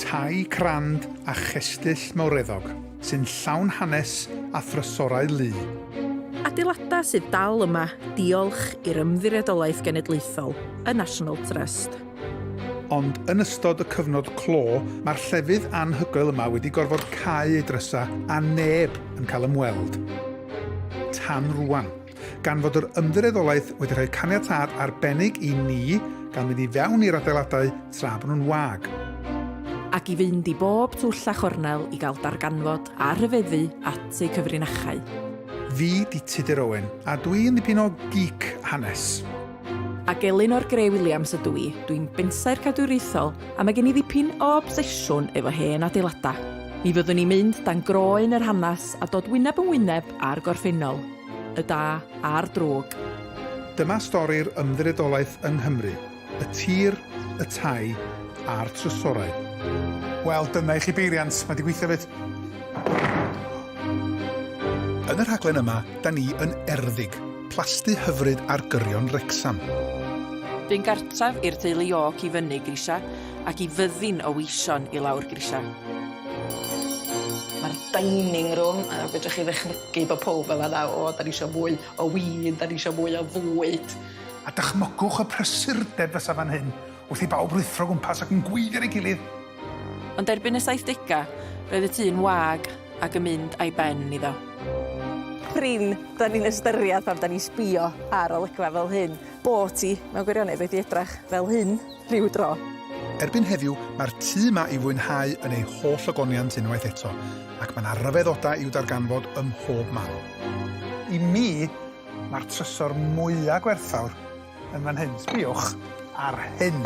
Tai crand a chestyll mawreddog sy'n llawn hanes a thrysorau lu. Adeiladau sydd dal yma diolch i'r Ymddiriedolaeth Genedlaethol, y National Trust. Ond yn ystod y cyfnod clo, mae'r llefydd anhygoel yma wedi gorfod cau ei drysau a neb yn cael ymweld. Tan rwan. Gan fod yr Ymddiriedolaeth wedi rhoi caniatâd arbennig i ni gael mynd i fewn i'r adeiladau tra bod nhw'n wag. Ac i fynd i bob twll a chornel i gael darganfod a rhyfeddu at eu cyfrinachau. Fi 'di Tudur Owen, a dwi yn ddipyn o geek hanes. Ac Elinor Grey Williams ydw i, dwi'n bensaer cadwriaethol a mae gen i ddipyn o obsesiwn efo hen adeiladau. Mi fyddwn ni'n mynd dan groen yr hanes a dod wyneb yn wyneb â'r gorffennol. Y da a'r drwg. Dyma stori'r ymddiriedolaeth yng Nghymru, y tir, y tai a'r trysorau. Wel, dyna i chi beiriant, mae 'di gweithio 'fyd. Yn y rhaglen yma, 'da ni yn Erddig, plasty hyfryd ar gyrion Wrecsam. Bu'n gartref i'r teulu York i fyny grisiau ac i fyddin o weision i lawr grisiau. Mae'r dining room, a fedrwch chi ddychmygu Gei bo powb yn fanna, o, 'dan ni isio mwy o win, 'dan ni isio mwy o fwyd. A dychmygwch y prysurdeb fysa fan hyn, wrth i bawb ruthro gwmpas ac yn gweiddi ar ei gilydd! Ond erbyn y saithdegau, roedd y tŷ'n wag ac yn mynd a'i ben iddo. Prin, 'dan ni'n ystyried pan 'dan ni'n sbio ar olygfa fel hyn, bo' ti, mewn gwirionedd, wedi edrach fel hyn. rhyw dro. Erbyn heddiw, mae'r tŷ 'ma i fwynhau yn ei holl ogoniant unwaith eto, ac mae 'na ryfeddodau i'w darganfod ym mhob man. I mi, mae'r trysor mwya' gwerthfawr yn fan hyn. Sbïwch ar hyn.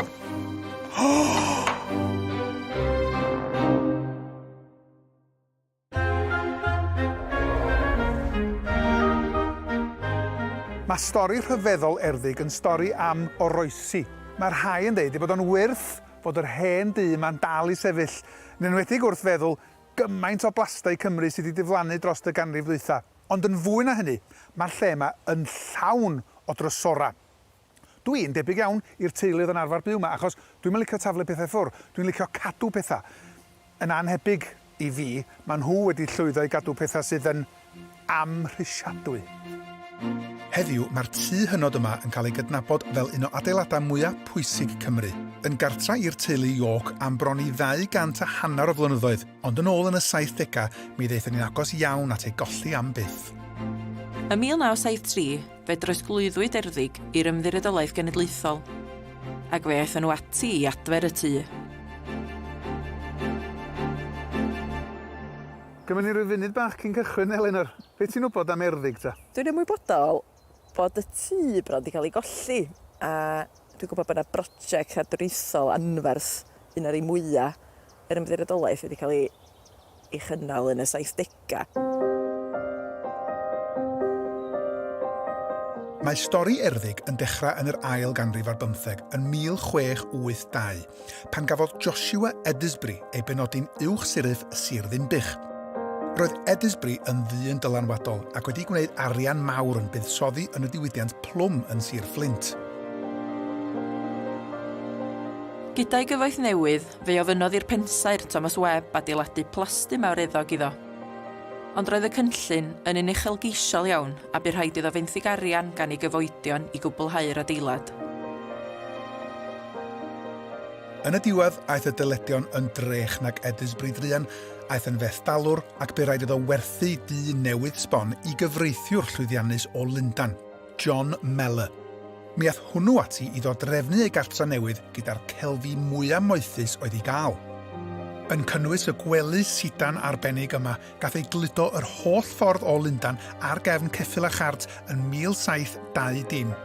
Mae stori rhyfeddol Erddig yn stori am oroesi. Mae rhai yn deud ei bod o'n wyrth fod yr hen dŷ yma'n dal i sefyll, yn enwedig wrth feddwl gymaint o blastai Cymru sydd wedi diflannu dros y ganrif ddwytha. Ond yn fwy na hynny, mae'r lle yma yn llawn o drysorau. Dw i'n debyg iawn i'r teulu oedd yn arfer byw 'ma achos dwi'm yn licio taflu pethau ffwr, dwi'n licio cadw pethau. Yn annhebyg i fi, maen nhw wedi llwyddo i gadw pethau sydd yn amhrisiadwy. Heddiw, mae'r tŷ hynod yma yn cael ei gydnabod fel un o adeiladau mwyaf pwysig Cymru. Yn gartref i'r teulu York am bron i ddau gant a hanner o flynyddoedd, ond yn ôl yn y saithdegau mi ddaethon ni'n agos iawn at ei golli am byth. Ym 1973, Fe drosglwyddwyd Erddig i'r Ymddiriedolaeth Genedlaethol, ac fe aethon nhw ati i adfer y tŷ. Gymryd ni ryw funud bach cyn cychwyn, Elinor. Be ti'n wybod am Erddig ta? Dwi'n ymwybodol bod y tŷ bron 'di cael ei golli, a dwi'n gwybod bod 'na broject cadwriaethol anferth, un o'r rhei mwya' yr Ymddiriedolaeth, wedi cael ei ei chynnal yn y saithdegau. Mae stori Erddig yn dechrau yn yr ail ganrif ar bymtheg, yn 1682, pan gafodd Joshua Edisbury ei benodi'n Uwch Siryf y Sir Ddinbych. Roedd Edisbury yn ddyn dylanwadol ac wedi gwneud arian mawr yn buddsoddi yn y diwydiant plwm yn Sir Fflint. Gyda'i gyfoeth newydd, Fe ofynnodd i'r pensaer, Thomas Webb, adeiladu plasdy mawreddog iddo. Ond roedd y cynllun yn un uchelgeisiol iawn a bu rhaid iddo fenthyg arian gan ei gyfoedion i gwblhau'r adeilad. Yn y diwedd, aeth y dyledion yn drech nag Edys Brydrian, aeth yn fethdalwr ac bu raid iddo werthu dyn newydd sbon i gyfreithiwr llwyddiannus o Lundan. John Mellor. Mi ath hwnnw ati iddo drefnu ei gartra newydd gyda'r celfi mwya moethus oedd i gael. Yn cynnwys y gwely sidan arbennig yma, gath ei gludo yr holl ffordd o Lundan ar gefn ceffyl a chart yn 1720.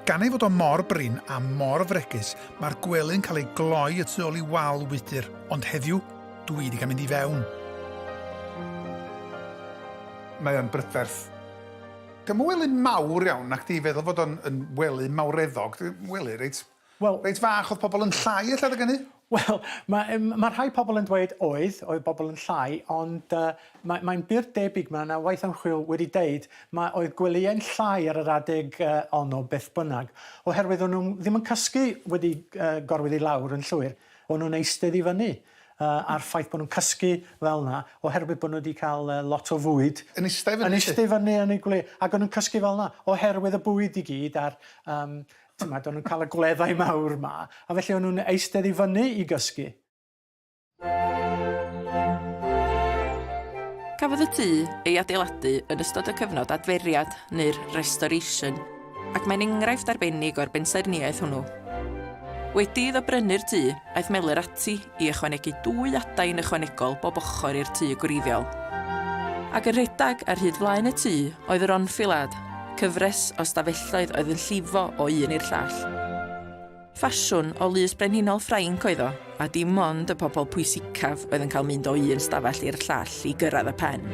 Gan ei fod o mor brin a mor fregus, mae'r gwely'n cael ei gloi y tu ôl i wal wydr, ond heddiw, dwi di cael mynd i fewn. Mae o'n brydferth. Dyma wely mawr iawn, nacdi, i feddwl fod o'n yn wely mawreddog, wely reit... Wel... reit fach, oedd pobl yn llai ella adeg hynny? Wel, mae yym mae rhai pobl yn dweud oedd, oedd pobl yn llai, ond yy mae mae'n bur debyg, mae 'na waith ymchwil wedi deud, mae oedd gwelyau'n llai ar yr adeg yy honno beth bynnag, oherwydd o'n nhw ddim yn cysgu wedi yy gorwedd i lawr yn llwyr, o'n nhw'n eistedd i fyny. yy a'r ffaith bod nhw'n cysgu fel 'na oherwydd bod nhw 'di cael yy lot o fwyd... Yn ista i fyny 'lly? ...yn ista i fyny yn eu gwledd ac o'n nhw'n cysgu fel 'na oherwydd y bwyd i gyd a'r yym t'mod o'n nhw'n cael y gwleddau mawr 'ma a felly o'n nhw'n eistedd i fyny i gysgu. Cafodd y tŷ ei adeiladu yn ystod y cyfnod adferiad neu'r 'restoration'. ac mae'n enghraifft arbennig o'r bensaernïaeth hwnnw. Wedi iddo brynu'r tŷ, aeth Meler ati i ychwanegu dwy adain ychwanegol bob ochr i'r tŷ gwreiddiol. Ac yn rhedeg ar hyd flaen y tŷ oedd yr Enfilad, cyfres o stafelloedd oedd yn llifo o un i'r llall. Ffasiwn o lys brenhinol Ffrainc oedd o, a dim ond y pobl pwysicaf oedd yn cael mynd o un stafell i'r llall i gyrraedd y pen.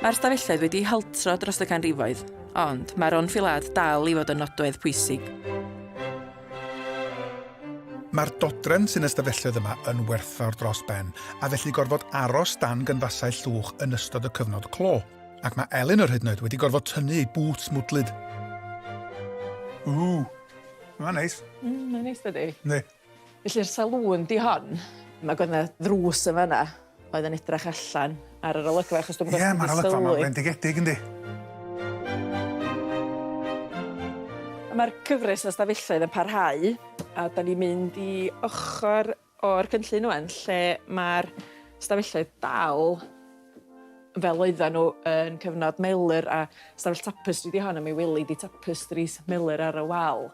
Mae'r stafelloedd wedi haltro dros y canrifoedd, ond mae'r onfilad dal i fod yn nodwedd pwysig. Mae'r dodrefn sy'n y stafelloedd yma yn werthfawr dros ben, a felly gorfod aros dan gynfasau llwch yn ystod y cyfnod clo, ac mae Elin yr hyd yn oed wedi gorfod tynnu ei bŵts mwdlyd. Ww! Mae'n neis. Mm, mae'n neis dydi? Ne. Felly'r salŵn di hon. Mae gwaith na ddrws yn fanna oedd yn edrych allan ar yr olygfa achos dwi'n gwybod... Ie, mae'r olygfa mae'n fendigedig yndi. Mae'r cyfres o stafelloedd yn parhau a da ni'n mynd i ochr o'r cynllun ŵan lle mae'r stafelloedd dal fel oedden nhw yn cyfnod Melur a stafell tapestri ydi hon a mi weli di tapestris Melur ar y wal.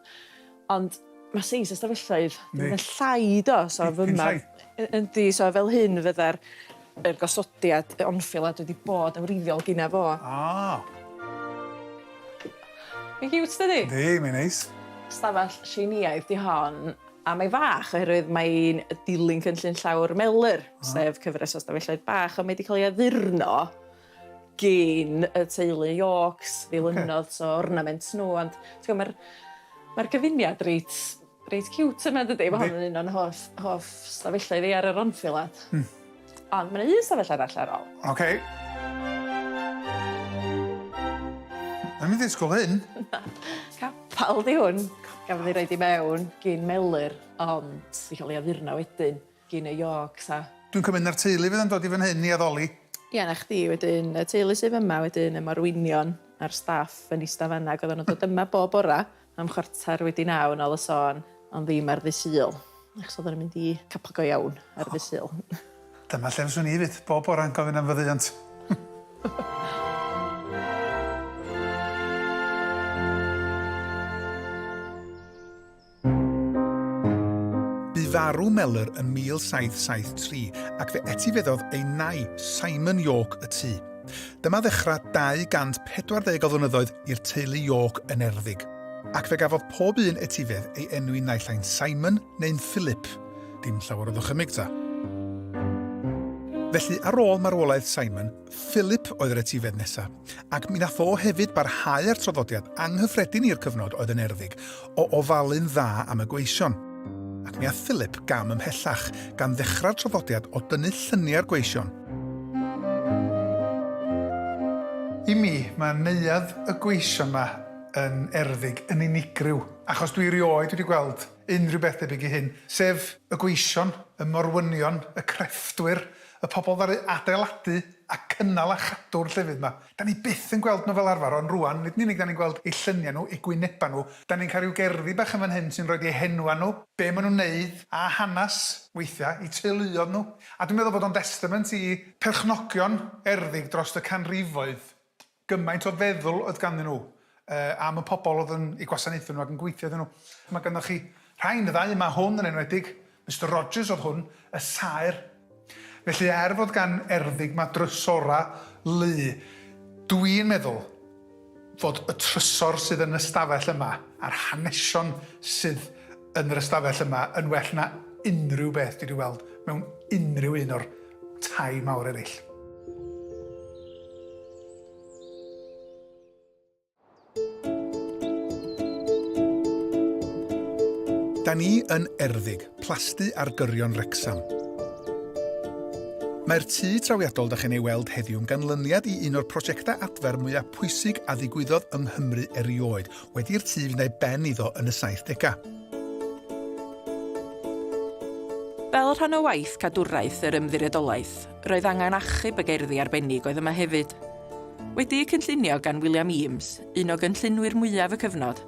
Ond mae seis y stafelloedd yn mynd llai do so fy ma yndi so fel hyn fydda'r yr gosodiad y onfilad wedi bod yn wreiddiol gynna fo. Ah. Mae'n ciwt dydi? Yndi mae'n neis. Stafell Tsieineaidd di hon. A mae fach oherwydd mae'n dilyn cynllun llawr Mellor, sef cyfres o stafelloedd bach, ond mae wedi cael ei addurno gyn y teulu Yorks, ddilynnodd so ornament nhw, ond ti'n mae'r mae gyfuniad reit, reit cute yna dydy, mae hon yn un o'n hoff, hoff stafelloedd i ar yr anffilad. Mm. Ond mae yna un sefyll arall ar ol. OK. Mae'n mynd i'r sgol hyn? Na, capal di hwn. Gafodd ei roed i mewn gyn Melir, ond i cael ei addurno wedyn gyn y Yorks a... Dwi'n cymryd na'r teulu fydd yn dod i fan hyn i addoli? Ie, na chdi, wedyn y teulu sydd yma, wedyn y morwynion a'r staff yn eistedd fanna, ac oedden nhw'n dod yma bob bora, Am chwarter wedi naw yn ol y sôn, ond ddim ar ddy' Sul, achos oedden ni'n mynd i capel go iawn ar ddy' Sul. Dyma lle fyswn i 'fyd, bob bore'n gofyn am faddeuant. Bu farw Mellor yn 1773 ac fe etifeddodd ei nai, Simon Yorke y tŷ. Dyma ddechrau 240 o flynyddoedd i'r teulu York yn Erddig, ac fe gafodd pob un etifedd ei enwi naill ai'n Simon neu'n Philip, dim llawer o ddychymyg ta. Felly, ar ôl marwolaeth Simon, Philip oedd yr etifedd nesaf, ac mi nath o hefyd barhau â'r traddodiad anghyffredin i'r cyfnod oedd yn Erddig, o ofalu'n dda am y gweision, ac mi aeth Philip gam ymhellach, gan ddechrau'r traddodiad o dynnu lluniau'r gweision. I mi, mae neuadd y gweision 'ma yn erddig, yn unigryw, achos dwi erioed wedi gweld unrhyw beth debyg i hyn, sef y gweision, y morwynion, y crefftwyr, y pobl ddaru adeiladu a cynnal a chadw'r llefydd 'ma. 'Da ni byth yn gweld nhw fel arfer, ond rŵan, nid yn unig 'da ni'n gweld eu lluniau nhw, eu gwynebau nhw, 'da ni'n cael rhyw gerddi bach yn fan hyn sy'n rhoid eu henwau nhw, be maen nhw'n wneud, a hanes, weithiau, eu teuluoedd nhw. A dwi'n meddwl bod o'n destament i perchnogion erddig dros y canrifoedd, gymaint o feddwl oedd ganddyn nhw, Yy am y pobl oedd yn eu gwasanaethu nhw ac yn gweithio iddyn nhw. Mae ganddoch chi rhain, y ddau yma, hwn yn enwedig, Mister Rogers oedd hwn, y saer. Felly er fod gan Erddig ma drysora lu, dw i'n meddwl fod y trysor sydd yn ystafell yma a'r hanesion sydd yn yr ystafell yma yn well na unrhyw beth dwi di weld mewn unrhyw un o'r tai mawr eraill. Da ni yn Erddig, plasty ar gyrion Wrecsam. Mae'r tŷ trawiadol da chi'n ei weld heddiw yn ganlyniad i un o'r prosiectau adfer mwyaf pwysig a ddigwyddodd yng Nghymru erioed, wedi'r tŷ fynd ei ben iddo yn y 70au. Fel rhan o waith cadwraeth yr Ymddiriedolaeth, roedd angen achub y gerddi arbennig oedd yma hefyd. Wedi'u cynllunio gan William Eames, un o gynllunwyr mwyaf y cyfnod,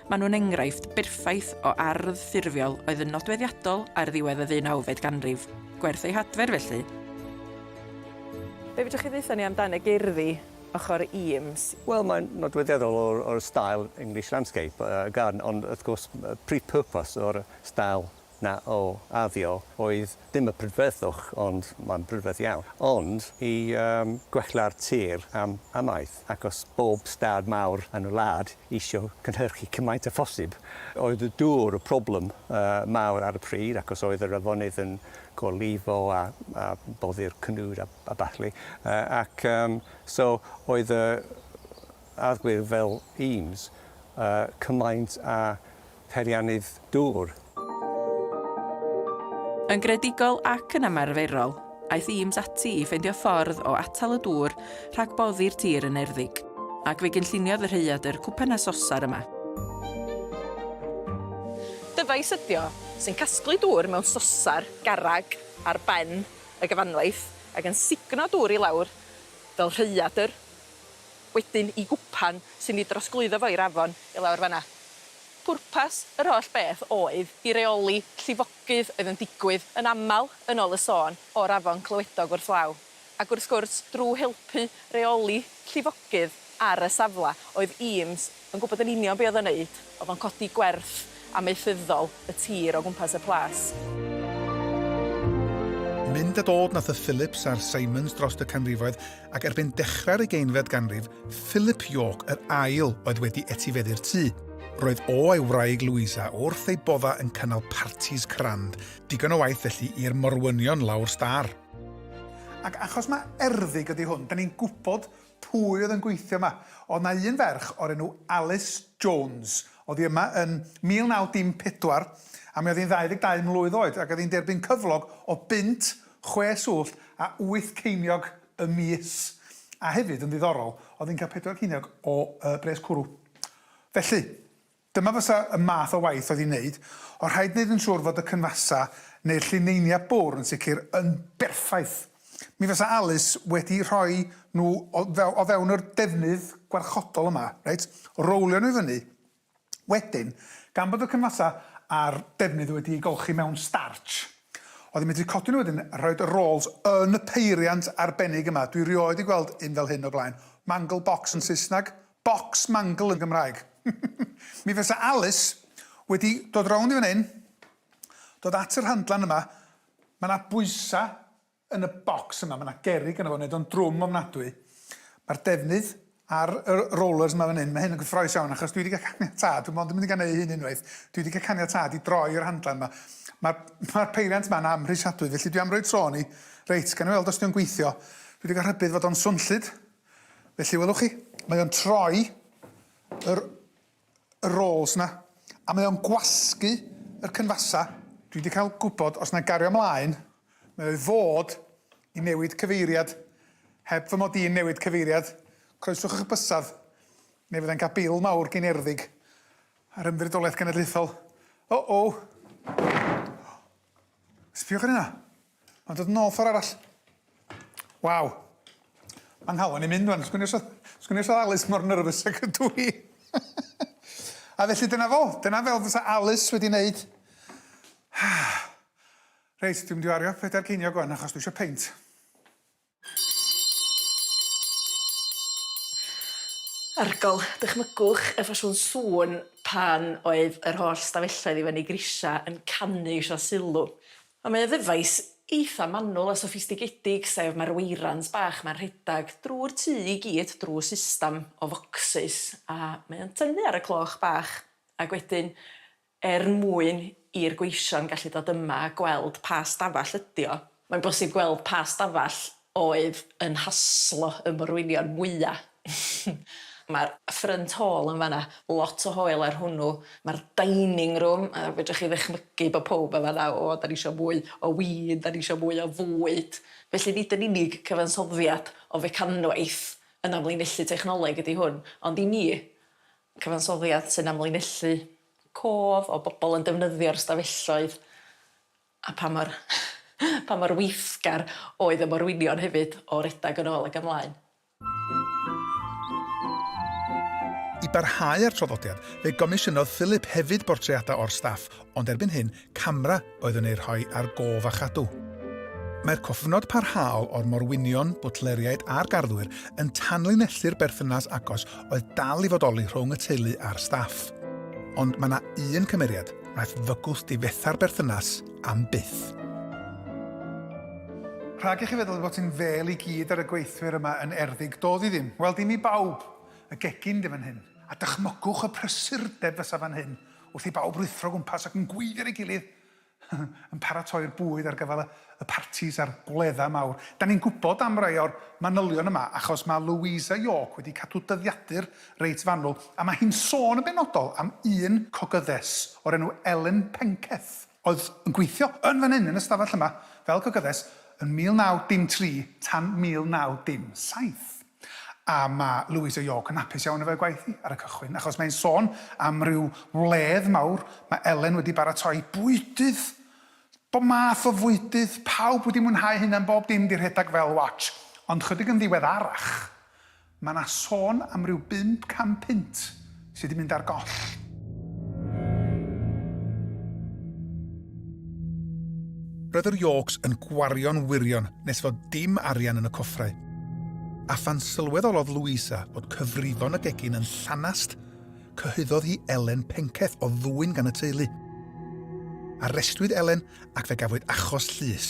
maen nhw'n enghraifft berffaith o ardd ffurfiol oedd yn nodweddiadol ar ddiwedd y ddeunawfed ganrif, gwerth eu hadfer felly. Be fedrwch chi ddaetho ni amdan y gerddi ochr Eames? Wel, mae'n nodweddiadol o'r o'r stael English landscape garden ond wrth gwrs prif pwrpas o'r stael Na, o, addio, oedd dim y prydferthwch, ond mae'n brydferth iawn, ond i yym gwella'r tir am amaeth, acos bob stad mawr yn y wlad isio cynhyrchu cymaint a phosib. Oedd y dŵr y problem yy mawr ar y pryd, acos oedd yr afonydd yn gorlifo a a boddi'r cnwd a a ballu, yy ac yym so oedd y arglwydd fel Eames yy cymaint a peiriannydd dŵr. Yn greadigol ac yn ymarferol, aeth Eames ati i ffeindio ffordd o atal y dŵr rhag boddi'r tir yn erddig, ac fe gynlluniodd y rhaeadr cwpan a sosar yma. Dyfais ydy o, sy'n casglu dŵr mewn sosar garreg ar ben y gyfanwaith ac yn sugno dŵr i lawr fel rhaeadr. wedyn i gwpan sy'n ei drosglwyddo fo i'r afon i lawr fan'na. Pwrpas yr holl beth oedd i reoli llifogydd oedd yn digwydd yn aml yn ôl y sôn o'r afon clywedog wrth law, ac wrth gwrs drw helpu reoli llifogydd ar y safle oedd Eames Yn gwybod yn union be oedd o'n neud, oedd o'n codi gwerth amaethyddol y tir o gwmpas y plas. Mynd a dod nath y Phillips a'r Simons drost y canrifoedd, ac erbyn dechrau'r ugeinfed ganrif, Philip York yr Ail oedd wedi etifeddu'r tŷ. Roedd o a'i wraig Louisa wrth eu bodda yn cynnal partis crand, digon o waith felly i'r morwynion lawr stâr. Ac achos mae erddig ydi hwn, 'dan ni'n gwybod pwy oedd yn gweithio yma. Oedd 'na un ferch o'r enw Alice Jones. Oedd hi yma yn 1914 a mi oedd hi'n 22 mlwydd oed ac oedd hi'n derbyn cyflog o bunt, chwe swllt a wyth ceiniog y mis. A hefyd, yn ddiddorol, oedd hi'n cael pedwar ceiniog o yy bres cwrw. Felly, Dyma fysa y math o waith oedd i wneud, ond rhaid wneud yn siŵr fod y cynfasau neu'r llineiniau bwr yn sicr yn berffaith. Mi fysa Alys wedi rhoi nhw o few- o fewn yr defnydd gwarchodol yma, reit, rowlio nhw i fyny, wedyn, gan bod y cynfasau a'r defnydd wedi eu golchi mewn startsh, oedd yn medru codi nhw wedyn a rhoid y rôls yn y peiriant arbennig yma, dwi rioed 'di gweld un fel hyn o'r blaen, mangle box yn Saesneg, Bocs mangl yn Gymraeg. Mi fysa Alys wedi dod rownd i fan hyn, dod at y rhandlan yma, ma' 'na bwysa yn y bocs yma, ma' 'na gerrig yno fo, neud o'n drwm ofnadwy. Ma'r defnydd ar y rollers ma' fan hyn, ma' hyn yn gyffroes iawn achos dwi 'di ga' caniatâd, dwi mond yn mynd i ga' neu' hyn unwaith, dwi 'di ga' caniatâd i droi y rhandlan 'ma. Ma'r ma'r peiriant 'ma'n amhrisiadwy felly dwi am roi tro arni. Reit, gawn ni weld os 'di o'n gweithio. Dwi 'di ga' rhybudd fod o'n swnllyd. Felly, welwch chi, mae o'n troi yr, y roles na, a mae o'n gwasgu yr cynfasa. Dwi wedi cael gwybod, os na gario mlaen, mae o'i fod i newid cyfeiriad. Heb fy mod i'n newid cyfeiriad, croeswch eich bysedd, neu fyddai'n cael bil mawr gen erddig ar Ymddiriedolaeth Genedlaethol. O-o! Sbiwch ar hynna. Ond oedd nôl ffordd arall. Waw. Mae nghalon i'n mynd rwan. Sgwn i os oedd Alice mor nervous ag ydw i. A felly dyna fo. Dyna fel fysa Alice wedi wneud. Reit, dwi'n mynd i wario pedair ceiniog rwan achos dwi eisiau peint. Arygol, dychmygwch y ffasiwn sŵn pan oedd yr holl stafelloedd i fyny grisia yn canu isio sylw. Ond mae o ddyfais eitha manwl a soffistigedig, sef mae'r weirans bach ma'n rhedag drw'r tŷ i gyd drw systam o focsys a mae o'n tynnu ar y cloch bach ac wedyn Er mwyn i'r gweision gallu dod yma a gweld pa stafell ydy o, mae'n bosib gweld pa stafell oedd yn haslo y morwynion mwya'. Mae'r ffrynt hôl yn fan'na, lot o hoel ar hwnnw, mae'r dining room, a fedrwch chi ddychmygu bod pawb yn fan'na, 'O, 'dan ni isio mwy o win, 'dan ni isio mwy o fwyd'. Felly nid yn unig cyfansoddiad o fecanwaith yn amlinellu technoleg ydy hwn, ond i mi, Cyfansoddiad sy'n amlinellu cof o bobl yn defnyddio'r ystafelloedd a pa mor pa mor weithgar oedd y morwynion hefyd o redeg yn ôl ac ymlaen. I barhau â'r traddodiad, fe gomisiynodd Philip hefyd bortreadau o'r staff, ond erbyn hyn, camera oedd yn eu rhoi ar gof a chadw. Mae'r cofnod parhaol o'r morwynion, bwtleriaid a'r garddwyr yn tanlinellu'r berthynas agos oedd dal i fodoli rhwng y teulu a'r staff. Ond mae yna un cymeriad wnaeth fygwth difetha'r berthynas am byth. Rhag i chi feddwl ei fod hi'n fêl i gyd ar y gweithwyr yma yn Erddig, doedd hi ddim. Wel, dim i bawb, y gegin 'di fan hyn. A dychmygwch y prysurdeb fysa fan hyn Wrth i bawb ruthro o gwmpas ac yn gweiddi ar ei gilydd, yn paratoi'r bwyd ar gyfer y partis a'r gwledda mawr. Da ni'n gwybod am rai o'r manylion yma achos mae Louisa York wedi cadw dyddiadur reit fanwl a mae hi'n sôn yn benodol am un cogyddes o'r enw Ellen Penketh oedd yn gweithio yn fan hyn yn y stafell yma fel cogyddes yn 1903 tan 1907. A mae Louisa York yn hapus iawn efo'i gwaith hi ar y cychwyn, achos mae'n sôn am ryw wledd mawr, mae Ellen wedi baratoi bwydydd, bob math o fwydydd, pawb wedi mwynhau hynna am bob dim 'di rhedag fel watch, ond chydig yn ddiweddarach, mae 'na sôn am ryw bump can punt sy 'di mynd ar goll. Roedd yr Yorks yn gwario'n wirion nes fod dim arian yn y coffrau. A phan sylweddolodd Louisa bod cyfrifon y gegin yn llanast, cyhoeddodd hi Elen penceth o ddwyn gan y teulu. Arestwyd Elen ac fe gafwyd achos llys.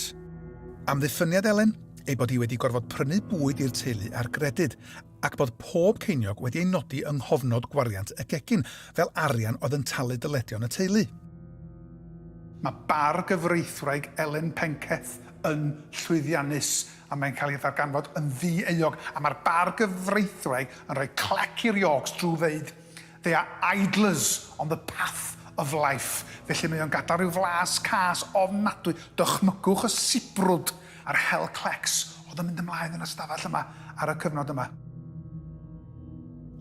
Amddiffyniad Elen ei bod hi wedi gorfod prynu bwyd i'r teulu ar gredyd ac bod pob ceiniog wedi ei nodi yng nghofnod gwariant y gegin, fel arian oedd yn talu dyledion y teulu. Mae bardd gyfreithwraig Elen Penketh yn llwyddiannus, a mae'n cael ei ddarganfod yn ddi-euog, a mae'r bardd gyfreithwraig yn rhoi clec i'r Yorks drwy ddeud, They are idlers on the path of life, felly mae o'n gadael rhyw flas cas ofnadwy, dychmygwch y sibrwd a'r hel clecs oedd yn mynd ymlaen yn y stafell yma ar y cyfnod yma.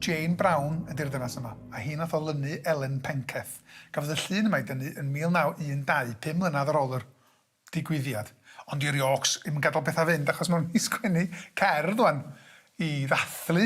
Jane Brown ydy'r ddynas yma, a hi nath olynu Elen Penketh. Gafodd y llun yma ei dynnu yn 1912, pum mlynadd ar ôl yr digwyddiad. Ond i'r jôcs, ddim yn gadael pethau fynd, achos maen nhw'n sgwennu cerdd ŵan i ddathlu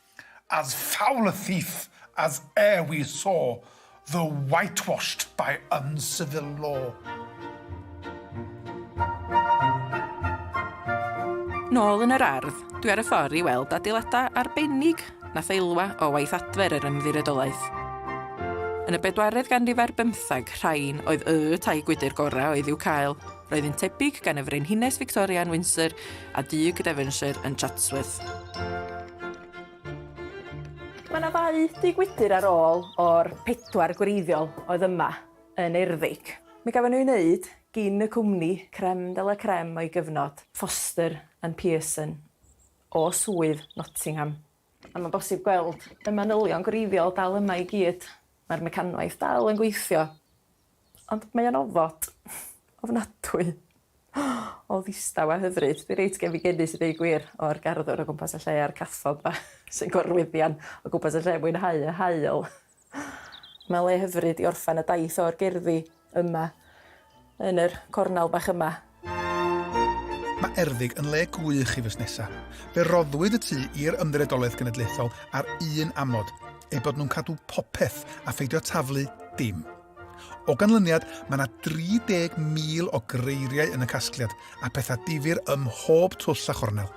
As foul a thief as e'er we saw, Though whitewashed by uncivil law. Nôl yn yr ardd, dwi ar y ffordd i weld adeiladau arbennig na theilwa o waith adfer yr Ymddiriedolaeth. Yn y bedwaredd ganrif ar bymthag, rhain oedd y tai gwydr gorau oedd i'w cael. Roedd yn tebyg gan y Frenhines Victoria yn Windsor a Dug Devonshire yn Chatsworth. Mae yna ddau dŷ gwydr ar ôl o'r pedwar gwreiddiol oedd yma yn Erddig. Mi gafon nhw'u wneud gin y cwmni creme de la creme o'i gyfnod, Foster and Pearson, o Swydd Nottingham. A mae'n bosib gweld y manylion gwreiddiol dal yma i gyd. Mae'r mecanwaith dal yn gweithio. Ond mae o'n ofod. Ofnadwy. O ddistaw a hyfryd. Dwi reit gefngenus i ddeu gwir o'r garddwr o gwmpas y lle a'r cathod 'ma sy'n gorwyddian o gwmpas y lle yn mwynhau y haul. Mae le hyfryd i orffen y daith o'r gerddi yma yn yr cornel bach yma. Mae Erddig yn le gwych i fusnesau. Fe roddwyd y tu i'r Ymddiriedolaeth Genedlaethol ar un amod, eu bod nhw'n cadw popeth a pheidio taflu dim. O ganlyniad, mae yna 30,000 o greiriau yn y casgliad a pethau difyr ym mhob twll a chornel.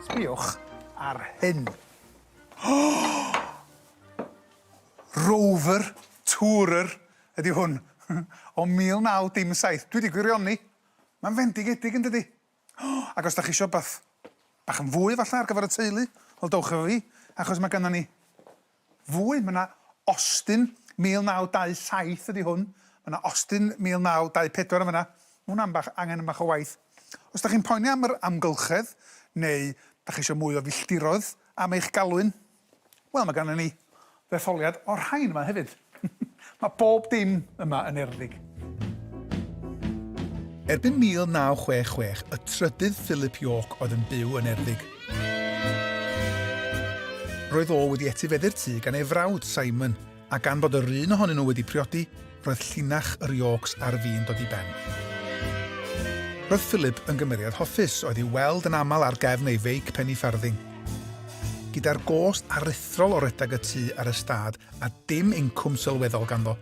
Sbïwch ar hyn. Rover, Tourer, Ydy hwn o 1917? Dwi 'di gwirioni. Mae'n fendigedig yn dydi? O! Ac os 'da chi isio wbath bach yn fwy falla ar gyfer y teulu, wel dowch efo fi achos mae gynnon ni fwy. Mae 'na Austin 1927 ydy hwn. Mae 'na Austin 1924 yn fan'na. Ma' hwnna'n bach angen bach o waith. Os 'da chi'n poeni am yr amgylchedd neu 'da chi isio mwy o filltiroedd am eich galwyn, Wel, mae ganddyn ni ddetholiad o'r rhain yma hefyd. mae bob dim yma yn Erddig. Erbyn 1966, y trydydd Philip York oedd yn byw yn Erddig. Roedd o wedi etifeddu'r tŷ gan ei frawd, Simon, A gan fod yr un ohonyn nhw wedi priodi, roedd llinach yr Yorks ar fin dod i ben. Roedd Philip yn gymeriad hoffus oedd i'w weld yn aml ar gefn ei feic penny-farthing. Gyda'r gost aruthrol o redag y tŷ a'r ystâd a dim incwm sylweddol ganddo,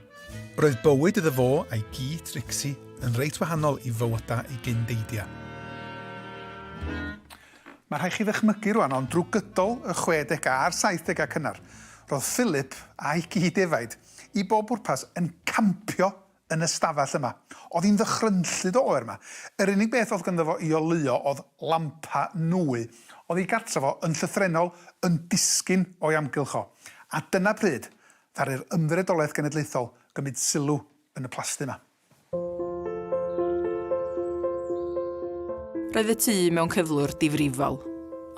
roedd bywyd iddo fo a'i gi, Trixie, yn reit wahanol i fywydau ei gyn-deidiau. Mae rhaid chi ddychmygu rwan, ond drwy gydol y chwedegau a'r saithdegau cynnar, roedd Philip a'i gyd-defaid, i bob pwrpas, yn campio yn y stafell yma. Oedd hi'n ddychrynllyd o oer 'ma. Yr unig beth oedd ganddo fo i oleuo oedd lampa nwy. Oedd ei gartref o, yn llythrennol, yn disgyn o'i amgylch o. A dyna pryd ddaru'r Ymddiriedolaeth Genedlaethol gymryd sylw yn y plasty 'ma. Roedd y tŷ mewn cyflwr difrifol.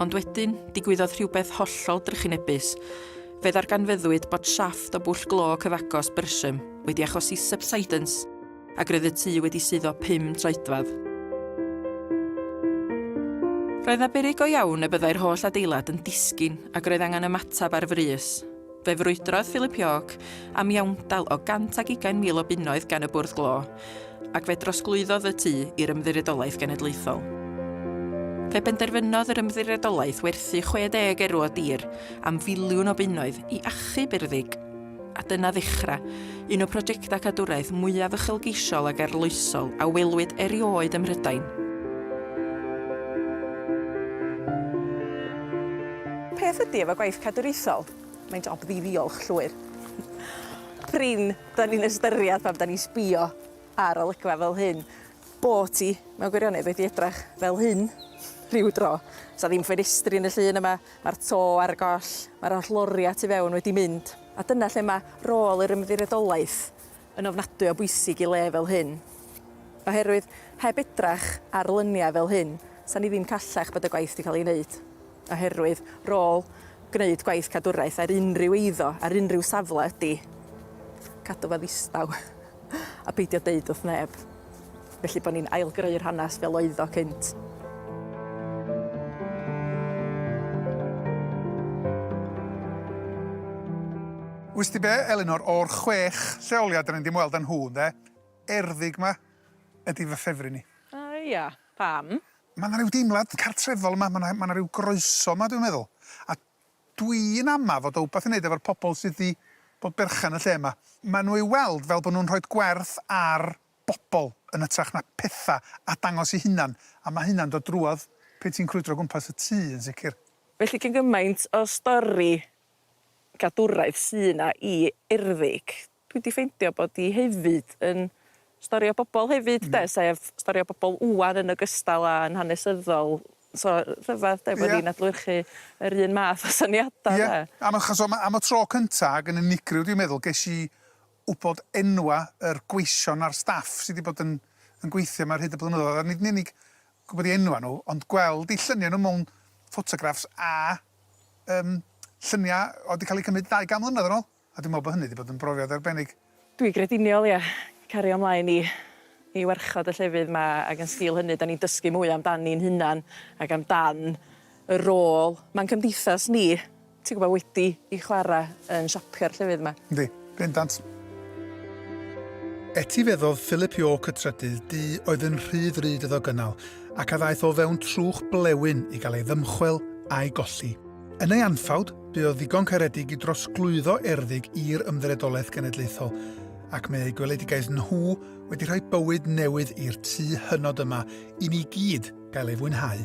Ond wedyn, digwyddodd rhywbeth hollol drychinebus. Fe ddarganfyddwyd bod siafft o bwll glo cyfagos Bersham wedi achosi subsidence, ac roedd y tŷ wedi suddo pum troedfedd. Roedd 'na beryg go iawn y byddai'r holl adeilad yn disgyn ac roedd angen ymateb ar frys. Fe frwydrodd Philip York am iawndal o 120,000 o bunnoedd gan y Bwrdd Glo, ac fe drosglwyddodd y tŷ i'r Ymddiriedolaeth Genedlaethol. Fe benderfynodd yr Ymddiriedolaeth werthu 60 erw o dir am filiwn o bunnoedd i achub i'r ddig, a dyna ddechrau Un o prosiectau cadwraeth mwyaf uchelgeisiol ac arloesol a welwyd erioed ym Mhrydain. Peth ydy efo gwaith cadwraethol, mae'n job ddi-ddiolch llwyr. Prin, da ni'n ystyried pan da ni'n sbio ar olygfa fel hyn, bod ti mewn gwirionedd wedi edrach fel hyn rhyw dro. Sa ddim ffenestri yn y llun yma, mae'r to ar y goll, mae'r holl loriau tu fewn wedi mynd. A dyna lle mae rôl yr Ymddiriedolaeth yn ofnadwy o bwysig i le fel hyn. Oherwydd, heb edrach ar lyniau fel hyn, 'sa ni ddim callach bod y gwaith wedi cael ei wneud. Oherwydd, rôl gwneud gwaith cadwraeth ar unrhyw eiddo, ar unrhyw safle, ydy cadw fo ddistaw. A peidio deud wrth neb. Felly bod ni'n ail-greu'r hanes fel oedd o cynt. Wyst ti be, Elinor, o'r chwech lleoliad dan ni 'di ymweld â nhw, ynde, Erddig 'ma ydi fy ffefryn i. O ia? Pam? Ma' 'na ryw deimlad cartrefol yma, ma' 'na ma' 'na ryw groeso yma dwi'n meddwl, a Dwi'n ama fod o wbath i neud efo'r pobl sydd 'di bod berchen y lle 'ma. Ma' nhw i'w weld fel bod nhw'n rhoid gwerth ar bobl yn ytrach na petha a dangos eu hunan, a ma' hynna'n dod drwodd pe' ti'n crwydro gwmpas y tŷ yn sicr. Felly gin gymaint o stori gadwraeth sy' 'na i Erddig. Dwi 'di ffeindio bod hi hefyd yn stori o bobol hefyd 'de sef stori o bobol ŵan yn ogystal â yn hanesyddol so rhyfedd 'de bod ni'n adlewyrchu yr un math o syniada 'de. Ie am achos o ma' am y tro cynta ag yn unigryw dwi'n meddwl ges i wbod enwa' yr gweision a'r staff sy' 'di bod yn yn gweithio 'ma ar hyd y blynyddoedd a nid yn unig gwbod 'u enwa' nhw ond gweld 'u llynia' nhw mewn ffotograffs a yym llynia' o'dd 'di ca'l 'u cymryd ddau gan mlynedd yn ôl. A dwi'n meddwl bod hynny 'di bod yn brofiad arbennig. Dwi grediniol, ia. Cario ymlaen i i warchod y llefydd 'ma ac yn sgil hynny 'dan ni'n dysgu mwy amdan ni'n hunan ac amdan y rôl ma'n cymdeithas ni, ti'n gwbod, wedi 'i chwara' yn siapio'r llefydd 'ma. Yndi, bendant. Etifeddodd Philip York y trydydd du oedd yn rhy ddrud iddo gynnal ac a ddaeth o fewn trwch blewyn i gael ei ddymchwel a'i golli. Yn ei anffawd, bu o ddigon caredig i drosglwyddo erddig i'r Ymddiriedolaeth Genedlaethol, ac mae eu gweledigaeth nhw wedi rhoi bywyd newydd i'r tu hynod yma i ni gyd gael ei fwynhau.